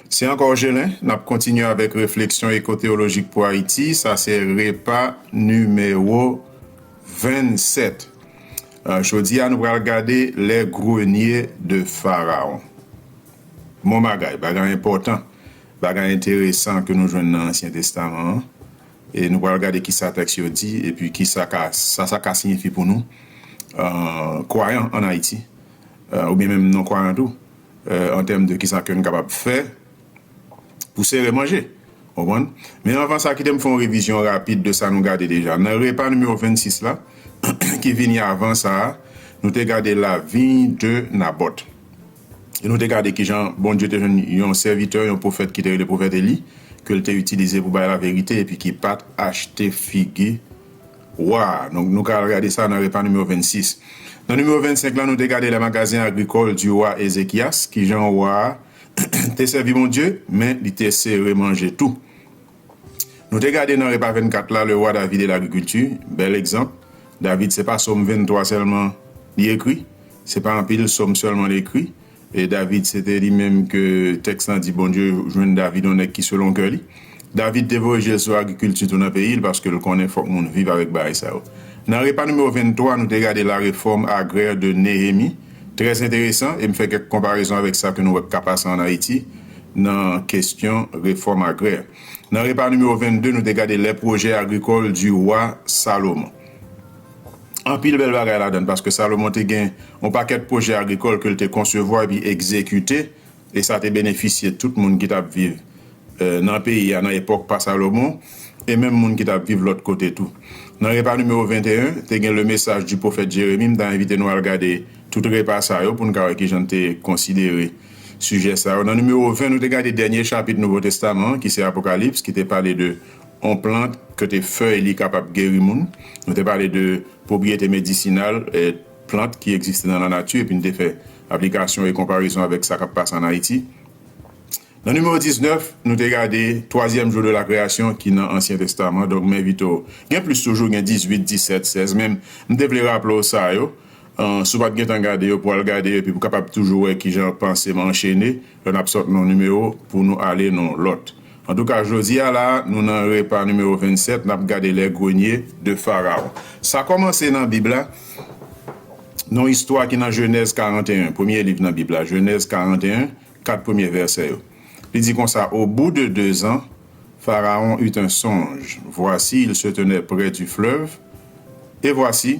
Se anka w Gelin, n ap kontinye avèk refleksyon ekoteyolojik pou Ayiti, sa se repa nimewo 27. Jodi a nou pral gade le grenye de Faraon. Bon bagay, bagay enpòtan, bagay enteresan ke nou jwenn nan Ansyen Testaman an. E nou pral gade kisa tèks yo di epi kisa ka sa sa ka siyifi pou nou kwayan an Ayiti oubyen menm non kwayan tou an tèm de kisa ke nou kapab fè pou sere manje. Konprann? Men anvan sa kite m fè yon revizyon rapid de sa nou gade deja. Nan repa nimewo 26 la ki vini avan sa a nou te gade lavi de Nabòt. E nou te gade ki jan Bondye te jwenn yon sèvitè, yon pwofèt ki te rele pwofèt Eli, ke l te itilize pou bay laverite epi ki pa t achte figi wa a. Donk, nou ka al gade sa nan Repa nimewo 26. Nan nimewo 25 la, nou te gade lè magazen agrikòl di wa Ezekyas, ki jan wa a te sèvi Bondye, men li te sere manje tou. Nou te gade nan repa 24 la le roi David et l'agriculture, bèl egzanp, David se pa som 23 sèlman li ekri, se pa anpil som sèlman li ekri, e David se te li menm ke tèks lan di Bondye jwenn David yon nèg ki selon kè li. David te voye je l sou agrikilti tou nan peyi l paske l konnen fòk moun viv avèk bagay sa yo. Nan repa nimewo 23 nou te gade la reforme agraire de Nehemie, trè enteresan e m fè kèk konparezon avèk sa ke nou wè k ka pase an Ayiti, nan kestyon refòm agrè. Nan repa nimewo 22 nou te gade lè pwojè agrikòl di Wa Salomon. Anpil bèl bagay ladan paske Salomon te gen yon pakèt pwojè agrikòl ke l te konsevwa epi egzekite e sa te benefisye tout moun ki t ap viv nan peyi a nan epòk pa Salomon e menm moun ki t ap viv lòt kote tou. Nan repa nimewo 21 te gen le message du prophète Jérémie m ta envite nou al gade tout repa sa yo pou n ka wè kijan n te konsidere sijè sa yo. Nan nimewo 20, nou te gade dènye chapit Nouvo Testaman an, ki se Apokalips, ki te pale de yon plant kote fèy li kapab geri moun. Nou te pale de pwopriyete medisinal plant ki egziste nan lanati epi n te fè aplikasyon e konparezon avèk sa k ap pase ann Ayiti. Nan nimewo 19, nou te gade twazyèm jou de la kreyasyon ki nan Ansyen Testaman. Donk, m envite w, gen plis toujou, gen 18, 17, 16, men m te vle raple w sa yo. Si w pa t gentan gade yo, pou w al gade yo epi pou w kapab toujou wè kijan panse m anchene lè n ap sot nan yon nimewo pou nou ale nan yon lòt. Antouka, jodi a la a, nou nan Repa nimewo 27, n ap gade Les Greniers de Pharaon. Sa kòmanse nan Bib la, nan yon istwa ki nan Jenèz 41, premye liv nan Bib la, Jenèz 41, kat premye vèsè yo. Li di konsa, Au bout de deux ans, Pharaon eut un songe, voici, il se tenait près du fleuve, et voici,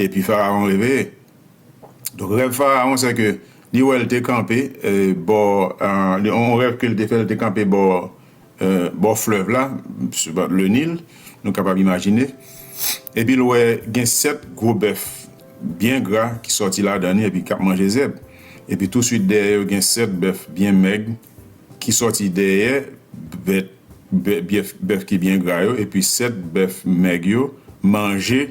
Epi Faraon reveye. Donk rèv Faraon se ke li wè l te kanpe bò, yon rèv ke l te fè l te kanpe bò bò flèv la, le Nil, nou kapab imajine, epi l wè gen sèt gwo bèf byen gra ki sòti ladan li epi k ap manje zèb. Epi tousuit dèyè yo gen sèt bèf byen mèg ki sòti dèyè bèt bèf ki byen gra yo, epi sèt bèf mèg yo manje.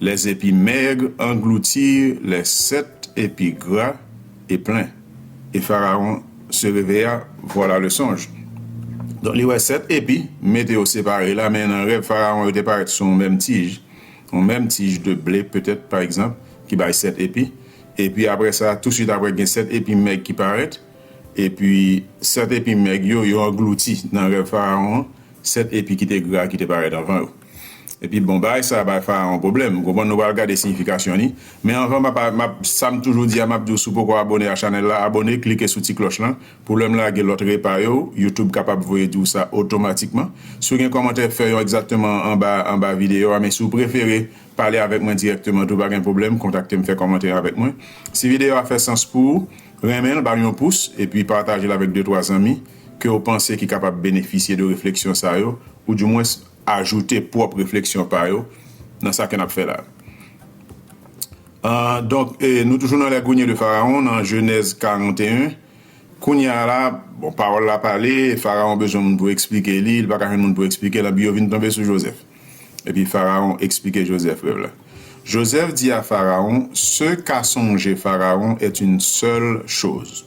Les épis maigres engloutirent les sept épis gras et pleins, et Pharaon se réveilla, voilà le songe. Donk li wè sèt epi, mete yo separe la, men nan rèv Faraon yo te parèt sou yon menm tij, yon menm tij de ble petèt pa egzanp, ki bay sèt epi. Epi apre sa, tousuit apre gen sèt epi mèg ki parèt, epi sèt epi mèg yo, yo anglouti nan rèv Faraon an. Sèt epi ki te gra ki te parèt anvan yo. Epi, bon, bagay sa a bay Farawon pwoblèm. Ou konprann? Nou pral gade siyifikasyon li. Men anvan, m ap, m ap, sa m toujou di a, m ap di w si w poko abone a chanèl la, abone, klike sou ti klòch lan, pou lè m lage lòt repa yo, YouTube kapab voye di w sa otomatikman. Si w gen kòmantè, fè yon egzakteman anba, anba videyo a. Men si w prefere pale avèk mwen dirèkteman tou, pa gen pwoblèm, kontakte m, fè kòmantè avèk mwen. Si videyo a fè sans pou ou, renmen l, ba l yon pous, epi pataje l avèk de twa zanmi. ke w panse ki kapab benefisye de refleksyon sa yo, ou di mwens ajoute pwòp refleksyon pa yo nan sa ke n ap fè la a. Donk, nou toujou nan lègounye de Faraon, nan Jenèz 41. Kounye a la, bon, pawòl la pale, Faraon bezwen moun pou eksplike li, li pa ka jwenn moun pou eksplike l, anpi yo vin tonbe sou Jozèf. Epi Faraon eksplike Jozèf rèv la. Jozèf di a Faraon, Ce qu'a songé Pharaon est une seule chose.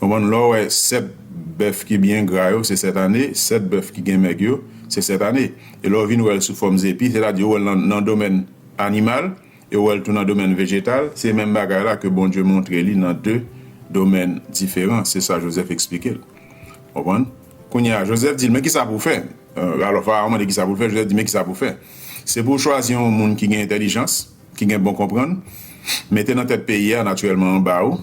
Konprann lè w wè 7 bèf ki byen gra yo se 7 ane, 7 bèf ki gen mèg yo se 7 ane. E lè w vin wè l sou fòm zepi, sètadi ou wè l nan domèn animal e ou wè l tou nan domèn vejetal, se menm bagay la ke Bondye montre li nan 2 domèn diferan, se sa Jozèf esplike l. Konprann? Kounye a, Jozèf di l, men kisa pou w fè? Alò, Farawon mande kisa pou l fè, Jozèf di, men kisa pou w fè? Se pou w chwazi yon moun ki gen entèlijans, ki gen bon konprann, mete nan tèt peyi a, natirèlman anba ou.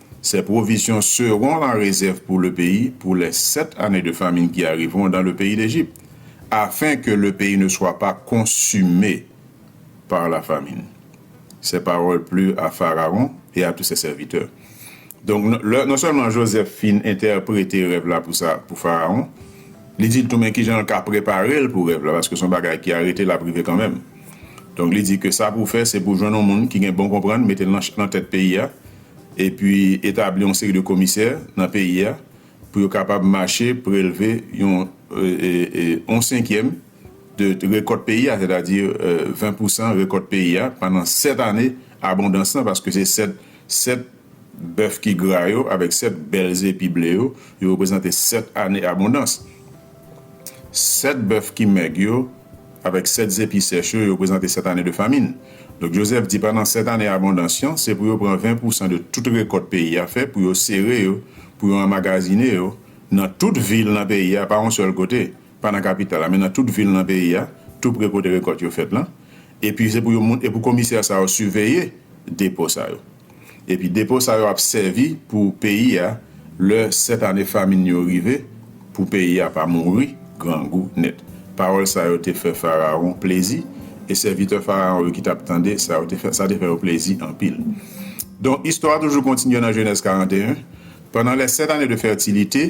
Ces provisions seront la réserve pour le pays pour les sept années de famine qui arriveront dans le pays d'Égypte, afin que le pays ne soit pas consumé par la famine. Ces paroles plurent à Pharaon et à tous ses serviteurs. Donk, lè, non sèlman Joseph fin entèprete rèv la pou sa, pou Pharaon, li di l tou men kijan l ka prepare l pou rèv la, paske se yon bagay ki arete l ap rive kanmenm. Donk, li di ke sa pou w fè, se pou w jwenn yon moun ki gen bon konprann, mete l nan tèt peyi a, epi etabli yon seri de komisè nan peyi a pou yo kapab mache prelve yon yon senkyèm de rekòt peyi a, sètadi 20 pou san rekòt peyi a pandan 7 ane abondans lan, paske se 7 7 bèf ki gra yo avèk 7 bèl zepi ble yo, yo reprezante 7 ane abondans. Sèt bèf ki mèg yo avèk sèt zepi sèch yo reprezante sèt ane de famin. Donk Jozèf di pandan sèt ane abondans yon, se pou yo pran ven pousan de tout rekòt peyi a fè pou yo sere yo, pou yo anmagazine yo nan tout vil nan peyi a, pa yon sèl kote, pa nan kapital la, men nan tout vil nan peyi a, toupre kote rekòt yo fèt lan. Epi se pou yo moun, e pou komisè sa yo siveye depo sa yo. Epi depo sa yo ap sèvi pou peyi a lè 7 ane famin yo rive pou peyi a pa mouri grangou nèt. Pawòl sa yo te fè Farawon plezi, e sèvitè Farawon yo ki t ap tande sa yo te fè, sa te fè yo plezi anpil. Donk, istwa a toujou kontinye nan Jenèz 41, Pandan lè sèt ane de fètilite,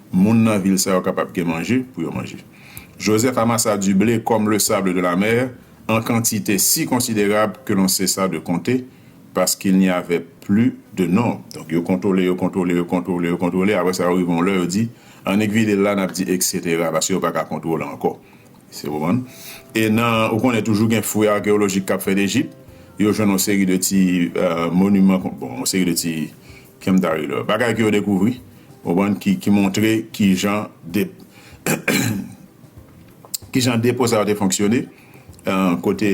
Moun nan vil sa yo kapab gen manje pou yo manje. Joseph amassa du blé comme le sable de la mer en quantité si considérable que l'on cessa de compter parce qu'il n'y avait plus de nombre. Donk yo kontwole, yo kontwole, yo kontwole, yo kontwole, apre sa yo rive yon lè yo di, annik vide l la, n ap di eksetera, paske yo pa ka kontwole ankò. Èske w konprann? E nan, ou konnen toujou gen fouy arkeyolojik k ap fèt Ejip, yo jwenn yon seri de ti moniman, bon, yon seri de ti. Kè m ta ridò. Bagay ke yo dekouvri, ou konprann, ki montre ki jan ki jan depo sa yo te fonksyone, kote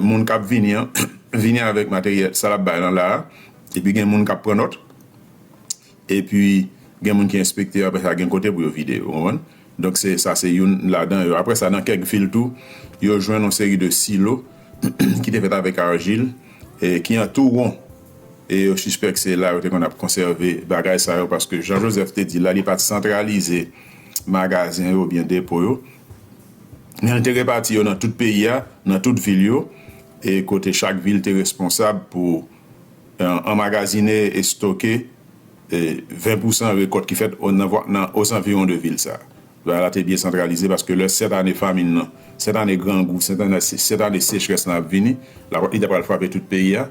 moun k ap vini an vini avèk materyèl, sa l ap bay lan la a, epi gen moun k ap pran nòt, epi gen moun ki enspekte yo, apre sa gen kote pou yo vide yo, ou konprann. Donk se sa se youn ladan yo. Apre sa, nan kèk vil tou, yo jwenn yon seri de silo ki te fèt avèk arjil e ki an tou won. E yo sispèk se la yo te konn ap konsève bagay sa yo paske jan Jozèf te di la, li pa t santralize magazen yo oubyen depo yo, men li te repati yo nan tout peyi a, nan tout vil yo, e kote chak vil te responsab pou anmagazine, estoke. 20 pousan rekòt ki fèt nan ozanviwon de vil sa. Bagay la te byen santralize paske lè sèt ane famin lan, sèt ane grangou, sèt ane sechrès lan ap vini, lakòt li ta pral frape tout peyi a.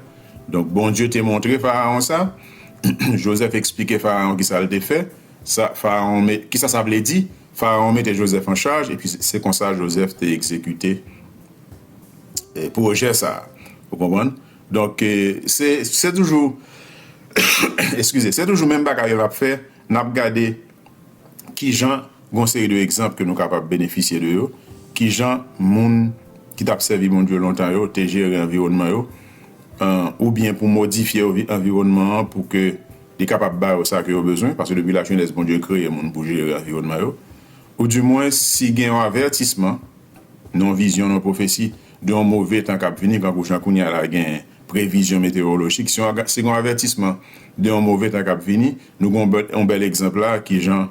Donk, Bondye te montre Farawon sa. Jozèf esplike Farawon ki sa l te fè, sa Farawon me, ki sa sa vle di. Farawon mete Jozèf an chaj epi se konsa Jozèf te egzekite pwojè sa. Ou konprann? Donk se se toujou eskize se toujou menm bagay yo l ap fè n ap gade ki jan gon seri de egzanp ke nou kapab benefisye de yo ki jan moun ki t ap sèvi Bondye lontan yo te jere anviwònman yo oubyen pou modifye anviwònman an pou ke li kapab ba yo sa ke yo bezwen paske depi lajenès Bondye kreye moun pou jere anviwònman yo ou di mwen si gen yon avètisman nan yon vizyon nan yon pwofesi de yon move tan k ap vini kankou jan kounye a la gen previzyon metewolojik se yon se yon avètisman de yon move tan k ap vini nou gen yon bèl yon bèl egzanp la kijan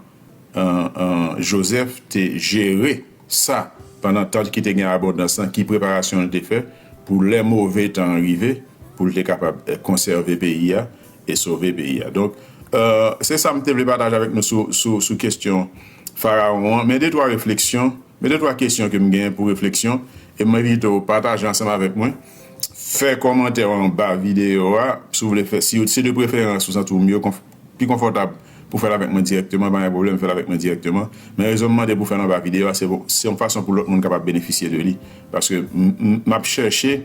Jozèf te jere sa pandan tan ki te gen abondans lan ki preparasyon li te fè pou lè move tan an rive pou l te kapab konsève peyi a e sove peyi a donk se sa m te vle pataje avèk nou sou sou kesyon farawon an men detwa refleksyon. Men de twa kesyon ke m gen pou refleksyon e m envite w pataje ansanm avèk mwen. Fè kòmantè w anba videyo a si w vle fè, si se de preferans ou santi w mye pi konfòtab pou fè l avèk mwen dirèkteman, pa gen pwoblèm fè l avèk mwen dirèkteman. Men rezon m mande pou w fè l anba videyo a se se yon fason pou lòt moun kapab benefisye de li. Paske m ap chèche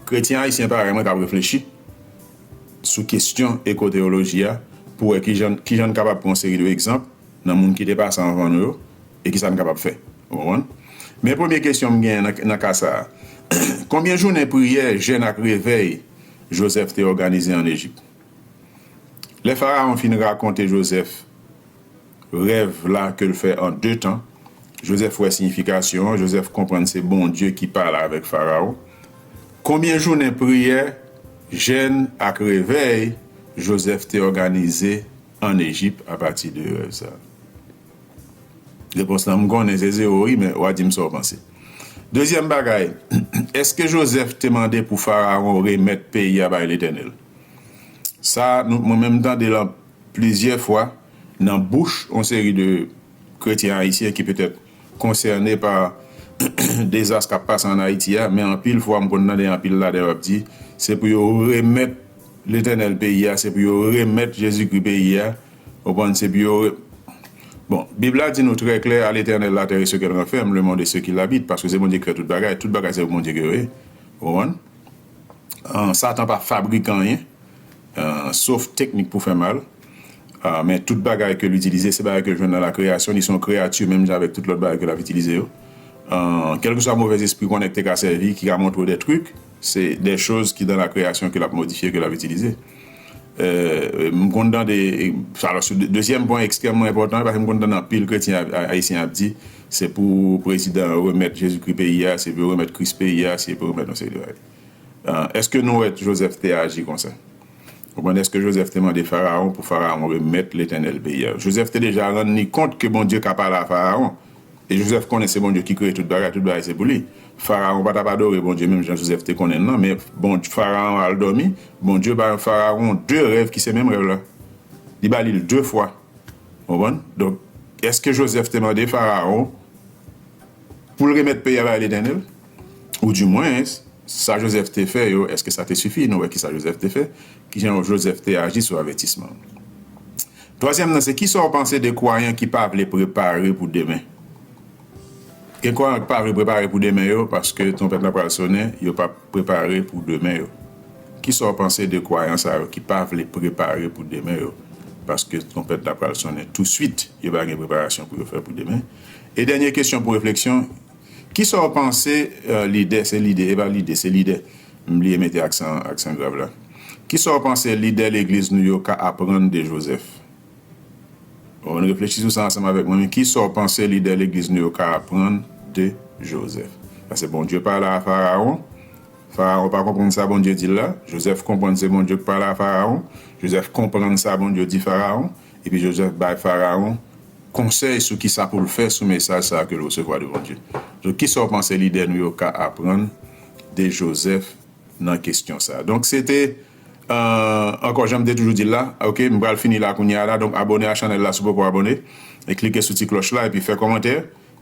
kretyen ayisyen parèy mwen k ap reflechi sou kesyon ekoteyoloji a pou wè ki jan n kapab pran yon seri de egzanp, nan moun ki te pase anvan nou yo e ki sa n kapab fè? Ou konprann? Men premye kesyon m gen nan ka sa a, Konbyen jounen priyè, jèn ak revèy Jozèf te òganize ann Ejip? Lè Farawon fin rakonte Jozèf rèv la ke l fè an de tan, Jozèf wè siyifikasyon an, Jozèf konprann se Bondye ki pale avèk Farawon. Konbyen jounen priyè, jèn ak revèy Jozèf te òganize an Ejip apati de rèv sa? Repons lan m konnen se zewo wi men wa di m sa w panse. Dezyèm bagay, èske Jozèf te mande pou Farawon remèt peyi a bay Letènèl? Sa nou mwen menm m tande l plizyè fwa nan bouch on seri de kretyen ayisyen ki petèt konsène pa dezas k ap pase ann Ayiti a, men anpil fwa m konn tande anpil ladan yo ap di, se pou yo remèt Letènèl peyi a, se pou yo remèt Jezikri peyi a, ou konprann, se pou yo re. Bon, Bib la di nou trè klè, A Letènèl latè e se ke l ranfèm, lemonn e se ki l abit, paske se Bondye ki fè tout bagay, tout bagay se pou Bondye ke yo ye, ou konprann, an, Satan pa fabrike anyen. sof teknik pou fè mal, men tout bagay ke l itilize se bagay ke l jwenn nan lakreyasyon, li se yon kreyati menm jan avèk tout lòt bagay ke l ap itilize yo, kèlkeswa movèzespri konnèk te ka sèvi ki ka montre w dè trik, se dè choz ki dan lakreyasyon ke l ap modifye, ke l ap itilize. M konn tande, alò sou dezyèm pwen ekstrèmman enpòtan, paske m konn tande anpil kretyen ayisyen ap di, se pou prezidan remèt Jezikri peyi a, se pou yo remèt Kris peyi a, se pou yo remèt yon seri de bagay. Èske nou wè Jozèf te aji konsa? Konprann, èske Jozèf te mande Farawon pou Farawon remèt Letènèl peyi a? Jozèf te deja rann li kont ke Bondye ka pale a Farawon. E Jozèf konnen se Bondye ki kreye tout bagay, tout bagay se pou li. Farawon pa t ap adore Bondye menm jan Jozèf te konnen l lan, men bon, Farawon al dòmi, Bondye bay Farawon de rèv ki se menm rèv la. Li ba li l de fwa. Ou konprann? Donk, èske Jozèf te mande Farawon pou l remèt peyi a bay Letènèl? Ou di mwens, sa Jozèf te fè yo, èske sa te sifi? Nou wè ki sa Jozèf te fè. Ki jan Jozèf te aji sou avètisman an? Twazyèm nan se, ki sa w panse de kwayan ki pa vle prepare pou demen? Gen kwayan ki pa vle prepare pou demen yo paske twonpèt la pral sonnen, yo p ap prepare pou demen yo. Ki sa w panse de kwayan sa yo ki pa vle prepare pou demen yo paske twonpèt la pral sonnen tousuit? Yo pa gen preparasyon pou yo fè pou demen. E dènye kesyon pou refleksyon. Kisa w panse lidè, se lide e pa lide, se lidè, m bliye mete aksan aksan grav la, kisa w panse lidè legliz nou yo ka aprann de Jozèf? O, ann reflechi sou sa ansanm avèk mwen, men kisa w panse lidè legliz nou yo ka aprann de Jozèf? Pase Bondye pale a Farawon, Farawon pa konprann sa Bondye di l la, Jozèf konprann se Bondye k pale a Farawon, Jozèf konprann sa Bondye di Farawon, Epi Jozèf bay Farawon konsèy sou ki sa pou l fè sou mesaj sa a ke l resevwa de Bondye. Donk, ki sa w panse lidè nou yo ka aprann de Jozèf nan kesyon sa a? Donk, se te, ankò, jan m te toujou di l la, ok, m pral fini la kounye a la. Donk, abòne a chanèl la si w poko abòne, e klike sou ti klòch la, epi fè kòmantè.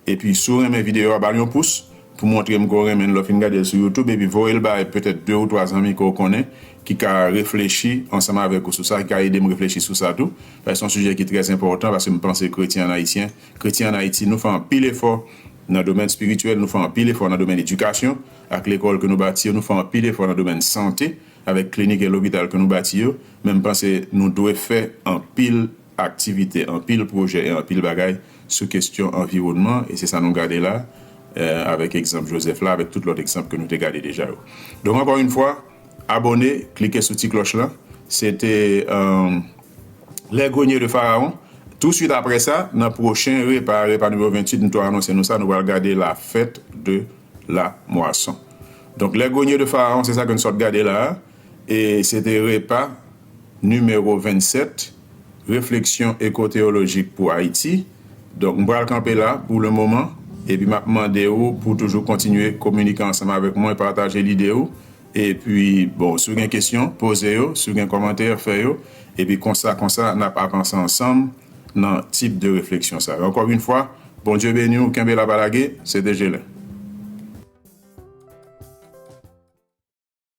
Epi si w renmen videyo a ba l yon pous pou montre m ke w renmen l lè w fin gade l sou youtube epi voye l bay petèt 2 ou 3 zanmi ke w konnen ki ka reflechi ansanm avèk ou sou sa ki ka ede m reflechi sou sa tou paske se yon sijè ki trè enpòtan paske m panse kretyen an ayisyen kretyen an ayiti nou fè anpil efò nan domèn espirityèl nou fè anpil efò nan domèn edikasyon ak lekòl ke nou bati yo nou fè anpil efò nan domèn sante avèk klinik e lopital ke nou bati yo men m panse nou dwe fè anpil aktivite, anpil pwojè e anpil bagay sou kestyon anviwònman e se sa nou gade la avèk egzanp Joseph la avèk tout lòt egzanp ke nou te gade deja yo. Donk ankò yn fwa abòne, klike sou ti klòch lan, se te Les Greniers de Pharaon. Tou swit aprè sa nan pwochen repa a, repa nimewo 28 m tou anonse nou sa nou pral gade la fête de la moisson. Donk Les Greniers de Pharaon se sa ke n sot gade la a e se te repa. Nimewo 27, Refleksyon Ekoteyolojik pou Ayiti Donk m pral kanpe la pou le moman epi m ap mande ou pou toujou kontinye kominike ansanm avèk mwen, pataje lide ou epi bon si w gen kesyon poze yo, si w gen kòmantè fè yo epi konsa konsa n ap avanse ansanm nan tip de refleksyon sa yo ankò yn fwa Bondye beni w kenbe la pa lage se te Gelin.